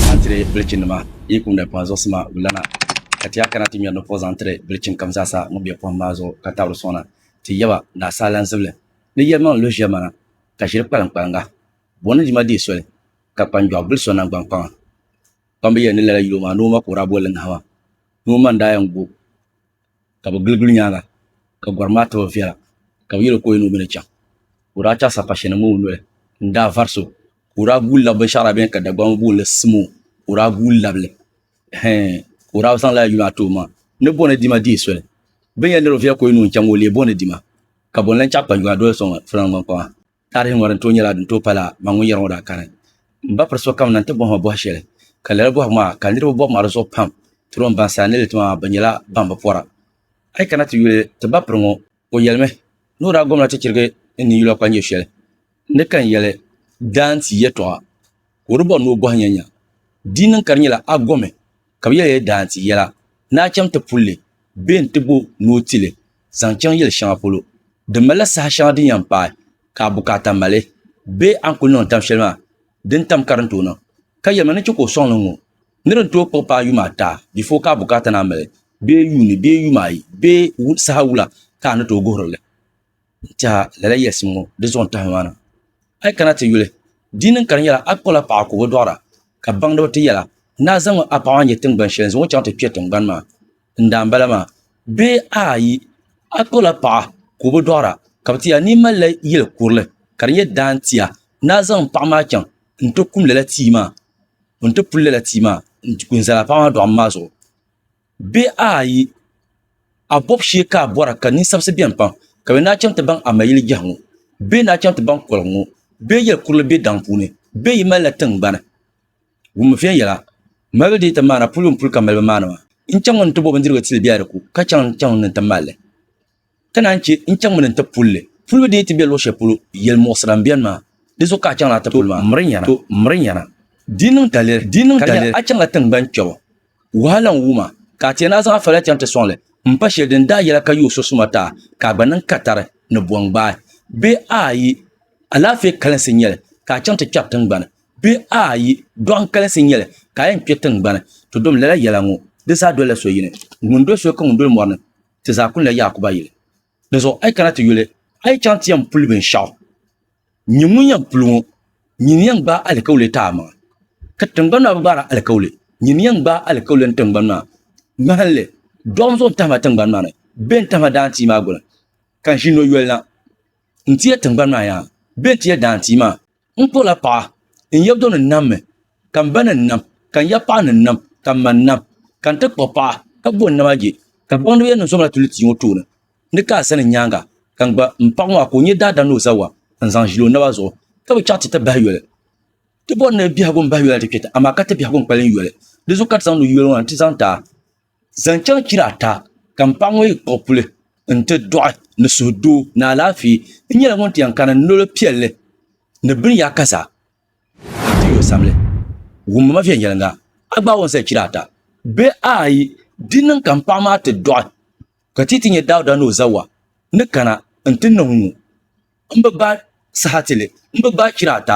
Zaŋ tiri bilichinima, yi kum di pɔhim zuɣusi maa gulana, ka ti yaa kana ti ŋmɛri di pɔh zaŋ tiri bilichin kam zaa sa ŋun be pɔhim maa zuɣu ka tabiri sɔŋna. Ti yaba, ni asaalanzibili, ni yɛlimaŋli lu ʒiɛmana, ka ʒiri kpaliŋkpaliŋga, buɣim ni dima deei soli, ka kpanjɔɣu bili so naŋgbankpaŋa. Kpamba yɛli ni lala yuli o maa ni o ma ka o daa boli li ŋahima, ni o ma n-daa yɛn gu o. ka bi giligili nyaanga ka gɔrim maa tibi viɛla ka bi yɛli o ka o yɛn ni o mi ni chaŋ ka o daa chaɣisa pa shɛli mini o noli n daa vari so ka o daa guui labi binshɛɣu daa beni ka Dagbaŋ ŋɔ booni simo ka o daa guui labili hɛɛn ka o daa zaŋ lala yuli maa ti o ma ni bɔ ni dima deei soli bini yɛn niri o viɛla ka o yɛn ni o chaŋ maa o leei bɔ ni dima ka bɔ n lahi chaɣi kpanjuma doli so ŋɔ fulaŋ gbankpama. Tarihi ŋɔ din tooi nyɛla din tooi pala ma ŋun yɛri ŋɔ daa kani. M ba piri sokam na nti bɔhi ma bɔhi shɛli, ka lala bɔhigu maa ka niriba bɔbi ma di zuɣu pam, tiri o m baŋsim a ni li ti ma bɛ nyɛla ban bi pɔra. A yi kana ti yuli ti ba piri ŋɔ, o yɛlimi ni o daa gomla ti chirigi n ni yula kpanjir shɛli ni ka n yɛli daanti yɛtɔɣa ka o di bɔri ni o bɔhi nyanya. Di niŋ ka di nyɛla a gomi ka bɛ yɛli ya daansi yɛla, ni a chaŋ ti puli li, bee n-ti bo ni o ti li zaŋ chaŋ yili shɛŋa polo din malila saha shɛŋa din yɛn paai ka a bukaata mali, bee a ni kul niŋ tam shɛli maa din tam ka din tooi niŋ, ka yɛli ma ni chɛ ka o sɔŋ li n-ŋɔ ni din tooi kpuɣi paai yuma ata before ka a bukaata naan mali, bee yuuni bee yuma ayi bee saha wula ka a ni tooi guhiri li. N tɛha, lala yɛlisim ŋɔ di zuɣu n-tahimi maa na. A yi kana ti yuli, di ni ka di nyɛla a kpuɣila paɣa ka o bi dɔɣira, ka baŋdiba ti yɛla, Ni a zaŋmi a paɣa maa n-nyɛ tiŋgbani shɛli n-zaŋ o chaŋ ti kpe tiŋgbani maa n daan bala maa, bee ayi, a kpuɣila paɣa ka o bi dɔɣira, ka bɛ ti yɛla, Ni yi malila yili kurili ka di nyɛ daan tia, ni a zaŋ m paɣa maa chaŋ n-ti kum lala tia maa, n-ti puli lala tia maa n-ti ku n-zali a paɣa maa dɔɣim maa zuɣu. Bihi ayi, a bɔbu shee ka a bɔra ka ninsabisi beni pam, ka bɛ daa chaŋ ti baŋ a ma yili jɛhi ŋɔ. Bɛ ni daa chaŋ ti baŋ koligu ŋɔ, bɛ yɛli kurili be daŋ puuni, bɛ yi malila tiŋgbani wum viɛnyɛla malibu dii ti maana puli n-puli ka malibu maani maa. N chaŋ ni n ti bo bindirigu tili bɛ a di ku, ka chaŋ n-chaŋ ni n ti mal li. Ka naan chɛ n-chaŋmi ni n-ti pul li. Pul mi din yi ti be luɣ shɛli polo yɛl muɣisira m-beni maa, di zuɣu ka a chaŋla a ti pul maa. To, miri nyana. Di niŋ daliri ka nya a chaŋla tiŋgban kpɛbu wahala n-wum a, ka a ti yɛn a zaŋ a fali a chaŋ ti sɔŋ li m-pa shɛli din daa yɛla ka yi o so suma ti a, ka a gba niŋ katari ni bɔŋ gbaai, bee aai, alaafee kalinsi n-nyɛ li ka a chaŋ ti kpɛri tiŋgbani, bee aai, dɔɣim kalinsi n-nyɛ li ka a yɛn kpe tiŋgbani. To dom lala yɛla ŋɔ, di zaa dolila so yini, Ŋun doli so ka ŋun doli mɔri ni ti zaa kuli la Yaakuba yili. Dinzuɣu a yi kana ti yuli, a yi chaŋ ti yɛn puli binshɛɣu. Nyin ŋun yɛn puli ŋɔ, nyin yɛn gbaai alikauli ti a maŋa. Ka tiŋgbani maa bi gbaari alikauli, nyin yɛn gbaai alikauli n tiŋgbani maa ŋmahinli. Dɔɣim zo n-tahima tiŋgbani maa ni, bee n-tahima daantia maa guli, ka n ʒi noyolina n-ti ya tiŋgbani maa yaha, bee n-ti ya daantia maa. N kpuɣila paɣa, n yɛbdo ni nam mi, ka m ba ni nam, ka n yapaɣ ni nam, ka m ma nam, ka n ti kpuɣ paɣa, ka bo n nama je. Ka baŋdiba yɛn niŋ so maa tulitia ŋɔ tooni ni ka a sani nyaaŋa, ka n gba m paɣ ŋɔ a ka o nyɛ daadam ni o zawa n-zaŋ ʒili o naba zuɣu, ka bi chaɣ ti ti bahi yoli. Ti bɔri ni biɛhigu m-bahi yoli ti kpɛta, amaa ka ti biɛhigu n-kpalim yoli. Di zuɣu ka ti zaŋdi yoli ŋɔ na nti zaŋ ti a. Zaŋ chaŋ chira ata ka m paɣ ŋɔ yi kpuɣi puli nti dɔɣi ni suhudoo ni alaafee, n nyɛla ŋun ti yɛn kani n noli piɛlli ni bini yaa ka zaa ka ti yo sabili. Wummi ma viɛnyɛliŋga, a gbaai o n-zali chira ata bee ayi, di niŋ ka m paɣ maa ti dɔɣi ka ti yi ti nya Dauda ni o zawa ni kana nti niŋ ŋɔ, m bi gbaai saha ti li, m bi gbaai chira ata.